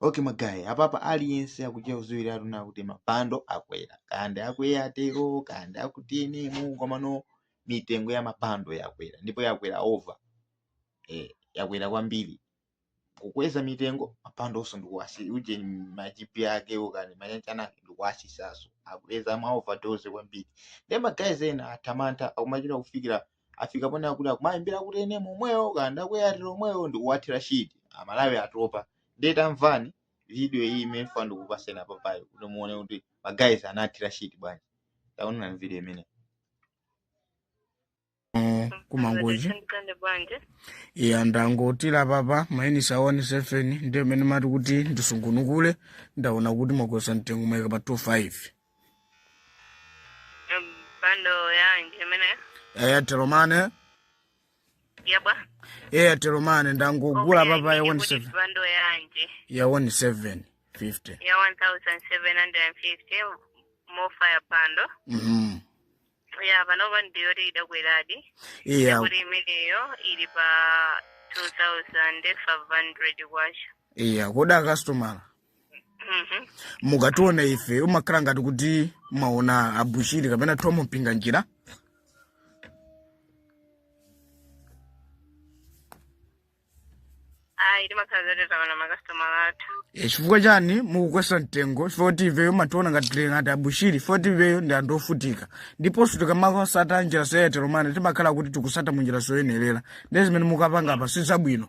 okay magayi apapa aliyense akuchita kudziwiratu kuti mabando akwera kaya ndi akwa airtel kaya ndi aku tnm komano mitengo ya mabando yakwera ndipo yakwera over eh, yakwera kwambiri kukweza mitengo mabando onso ndikuwasi uje majipi ake ukani mayanjana ake ndikuwasisaso akweza ma overdose kwambiri ndiye magayi ena atha mantha akumachita kufikira afika ponena kuti akumayimbira kuti eni omwewo kaya ndi ku airtel omwewo ndikuwathira shiti amalawi atopa ndiye tamvani video iyi imene ndafuna ndikupatseni apapayo kuti muone kuti magayizi anathira shiti bwanji taonani video imene Oh, kumangochi Mtande bwanji. iya ndangothira apapa maunitsi a 17 ndi amene ndimati kuti ndisungunukule ndaona kuti mwakweza mtengo mwaika pa 25 Bando yanji imene airtel money yapa. airtel money ndangogula Okay, apapa ya ndikuti 17 Bando yanji ya 1750 ya 1750 mofaya bando. Mhm. Ya panopa ndiyoti idakweradi. iya Kuti imeneyo ili pa 2500 kwacha. iya koda customer Mhm. mukationa ife mumakhala ngati kuti mwaona abushiri kapena tom mpinganjira ayi timakhala zoteterawa na makasitomala athu Eh, chifukwa chani mukukweza mtengo chifukwa kuti ifeyo mumationa ngati tili ngati abushiri chifukwa kuti ifeyo ndi anthu ovutika ndiponso tikamatsata njira zoyenera mane timakhala kuti tikutsata munjira zoyenerera ndiye zimene mukupanga apa si zabwino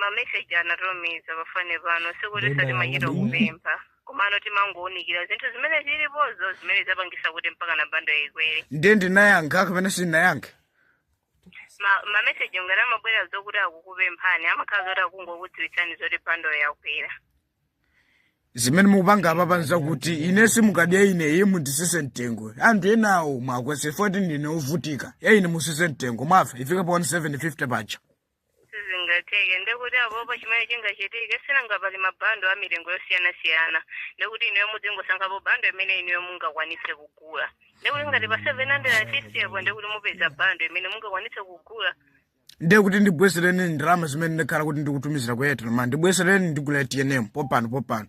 mameseji anatumiza pafoni pano sikuti Nenda sitimachita wabwino. kupempha komano timangounikira zinthu zimene zilipozo zimene zapangisa kuti mpaka na bando ikwere ndiye ndinayankha kapena sindinayankhe Ma- mameseji ngati amabwera zokuti akukupemphani amakhala zoti akungokudziwitsani zoti bando yakwera zimene mukupanga apapa nzakuti ine sindikadya ine iye munditsitse mtengo anthu enawo muwakweze 14 ndine ovutika ya ine mutsitse mtengo mwamva ifike pa 1750 paja sizingatheke ndekuti apopo chimene chingachitike sinanga pali mabando a milingo yosiyanasiyana ndekuti inuyo mudzingosankhapo bando imene inuyo mungakwanitse kugula ndekuti ngati ndi pa 1750 apo ndekuti mupeza bando imene mungakwanitse kugula ndiye kuti ndibwezereni ndalama zimene ndakhala kuti ndikutumizirani ku airtel money ndibwezereni ndigula tnm popano popano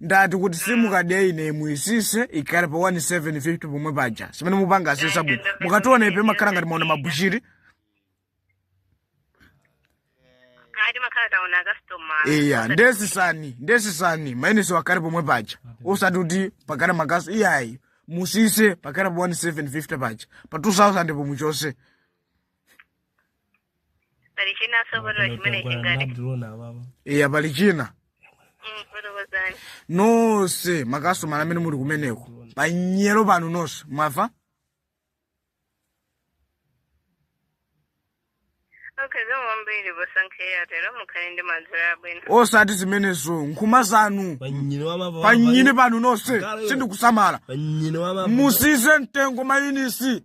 ndati kuti simu kadi ya ine imwe isise ikhale pa 1750 pomwe paja simene mupanga asesa bwino mukationa ipe makhala ngati maona mabuchiri kati makhala taona akasitoma iya ndesisani ndesisani mayeneso akhale pomwe paja osati kuti pakhala makaso iyayi musise pakhala pa 1750 paja pa 2000 pomwe chose pali chinanso poto chimene chingati abdulona ababa eya pali china Mm, fotokozani nonse makastomala amene muli kumeneko panyero panu nonse mwamva okay zambiri posankha airtel mukhale ndi madzulo abwino osati zimenezo nkhuma zanu panyini wa mababa panyini panu nonse sindikusamala panyini wa mababa mutsitse mtengo maunitsi